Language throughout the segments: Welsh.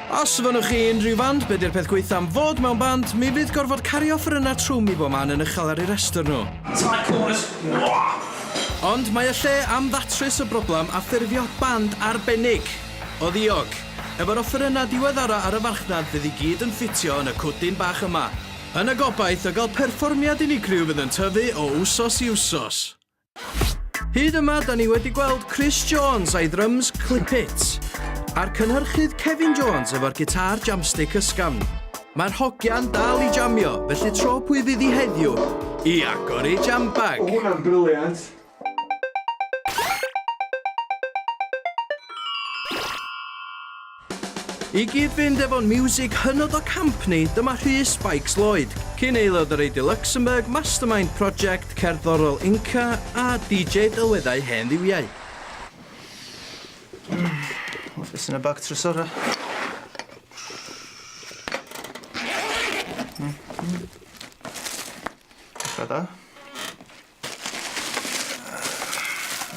Os fynnwch chi unrhyw fand, be di'r peth gweitha am fod mewn band? Mi fydd gorfod cario offerynna trwm i bob man yn uchel ar eu rhestr nhw. Try chorus, wah! Ond mae y lle am ddatrys y broblam a ffurfio band arbennig! O ddiog! Efo'r offerynna diweddara ar y farchnad fydd i gyd yn ffitio yn y cwdyn bach yma. Yn y gobaith o gael perfformiad unigryw fydd yn tyfu o wsos i wsos. Hyd yma, da ni wedi gweld Chris Jones a'i drums Clip It, a'r cynhyrchydd Kevin Jones efo'r gitar jamstick ysgafn. Mae'r hogian dal i jamio, felly tro pwy fydd i heddiw i agor ei jambag. O, hwnna'n briliant! I gyd-fynd efo'n miwsig hynod o camp ni, dyma Rhys Spikes Lloyd, cyn aelod o Radio Luxembourg, mastermind project cerddorol Inca a DJ delweddau hen dduwiau. Office yn y bag trysora. Dda.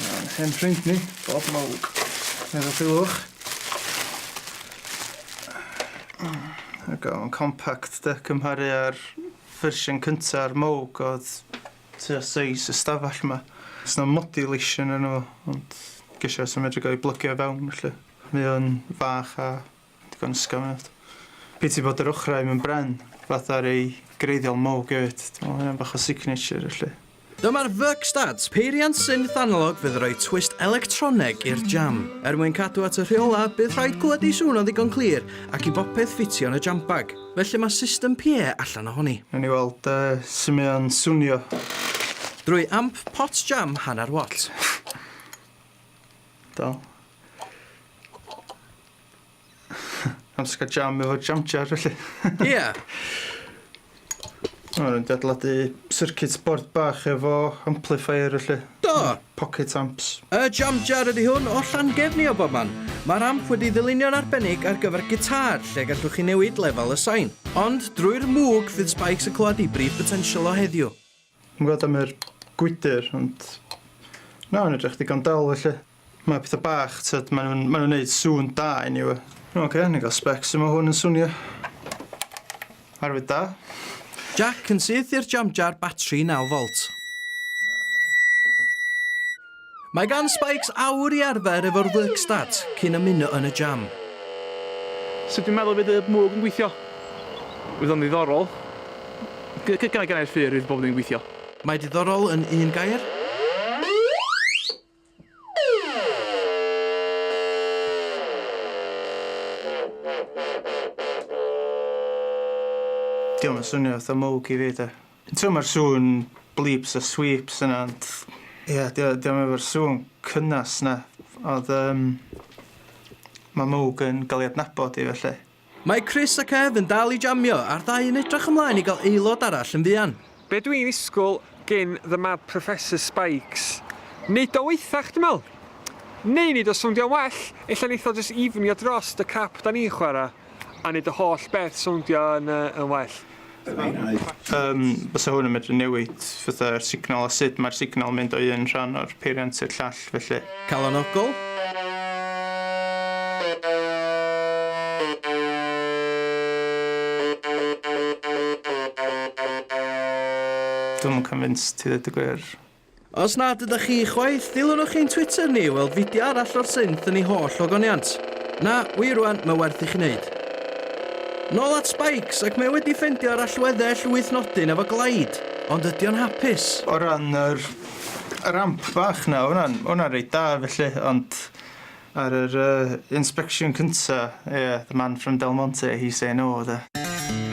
Mae'n hen ffrind ni, Bob Mowg. Efo Culhwch. There go, mae'n compact de, cymharu â'r fersiwn cyntaf ar Mowg oedd tua seis y stafell yma. Os na modulation yn nhw, ond gesio os yn medru gael ei blygio fewn felly. Mae o'n fach a Digon ysgafn yw wnna. Piti bod yr ochrau mewn bren, fatha rei greiddiol mwg hefyd. Dwi'n meddwl hynna'n bach o signature felly. Dyma'r Verkstads, peiriant synth analog fydd yn rhoi twist electroneg i'r jam. Er mwyn cadw at y rheolau, bydd rhaid clywed ei sŵn o'n ddigon clir ac i bopeth ffitio yn y jam bag, felly mae system PA allan ohoni. Wnawn ni weld sut mae o'n swnio. Drwy amp pot jam hanner watt. Dal. Amser cael jam efo jam jar, felly. Ia. O'n nhw'n dadladu circuit board bach efo amplifier, felly. Do! Pocket amps. Y jam jar ydy hwn o Llangefni o bob man. Mae'r amp wedi ddylunio'n arbennig ar gyfer gitar, lle gallwch chi newid lefel y sain. Ond drwy'r mwg fydd Spikes yn clywed ei brif botensial o heddiw. Yn gwbod am yr gwydr ond na ma'n edrych digon dal felly. Mae petha bach tyd ma' nhw'n ma' nhw'n neud sŵn da eniwe. Ok ni ga'l sbec su' ma' hwn yn swnio. Arwydd da. Jac yn syth i'r jamjar batri naw volt. Mae gan Spikes awr i arfer efo'r work start cyn ymuno yn y jam. Sut dwi'n meddwl y bydd y mwg yn gweithio? Fydd o'n ddiddorol. Gynna gynna i'r ffyr fydd bob ddim yn gweithio. Mae diddorol yn un gair. Dio'm yn swnio fatha mwg i fi de. T'mo' ma'r sŵn bleeps a sweeps yna ond ie 'di o 'di o'm efo'r sŵn cynnes 'na odd yym ma' Mwg yn ga'l 'i adnabod i felly. Mae Chris a Kev yn dal i jamio a'r ddau yn edrach ymlaen i gael aelod arall yn fuan. Be dw i'n ddisgwyl gin The Mad Professor Spikes? Neud o waethach dw i'n meddwl. Neu neud o sowndio well, ella neith o jyst ifnio drost y crap 'da ni'n chwarae. A wneud y holl beth sowndio yn well. Yym, bysa hwn yn medru newid fatha'r signal a sut mae'r signal yn mynd o un rhan o'r peiriant i'r llall, felly. Calonogol. Dwi'm yn convinced i ddeud y gwir. Os nad ydych chi chwaith, dilynwch ein Twitter ni i weld fideo arall o'r synth yn ei holl ogoniant. Na, wir rwan, mae werth i chi wneud. Nôl at Spikes, ac mae o wedi ffendio ar allweddell wyth nodyn efo Glide, ond ydy o'n hapus? O ran yr yr amp bach 'na, o' hwnna'n o' hwnna'n reit da felly, ond Ar yr inspection cynta, ie, the man from Del Monte, he say no, de.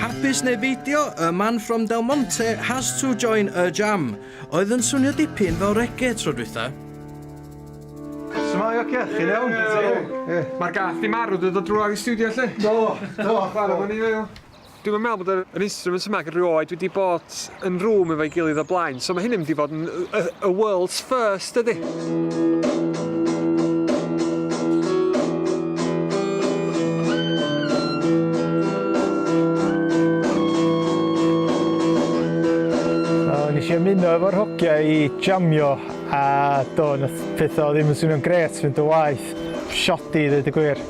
Hapus neu beidio, y man from Del Monte has to join y jam. Oedd yn swnio dipyn fel reggae tro dwytha. Shwmae, oce? Chi'n iawn? Ie. Mae'r gath 'di marw, dwi 'di dod drwadd i stiwdio 'lly. Do, do. Chwara' efo ni fe o. Dwi'm yn meddwl bod yr instruments yma ac rioed wedi bod yn rŵm efo'i gilydd o blaen, so mae hyn yn mynd i fod yn y, y world's first ydi. nes i ymuno efo'r hogia i jamio a do, nath pethau ddim yn swnio'n gret fynd o waith, shoddy i ddweud y gwir.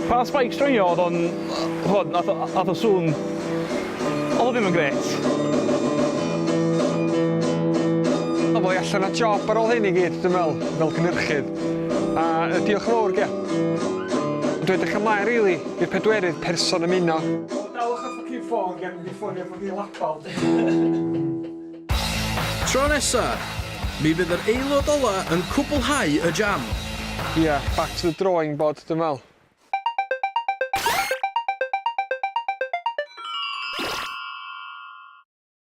Pa spike stringio oedd o'n... chimod, wnaeth o... aeth y sŵn... oedd o ddim yn grêt. Wel, mae allan o job ar ôl hyn i gyd, dwi'n meddwl, fel cynhyrchydd. A diolch yn fawr, ie. Dwi'n edrych ymlaen rili i'r pedwerydd person ymuno. Daliwch y ffycin ffôn cyn i mi ffonio ffycin Labal. Tro nesa, mi fydd yr aelod ola yn cwblhau y jam. Ia, back to the drawing board dwi'n me'wl.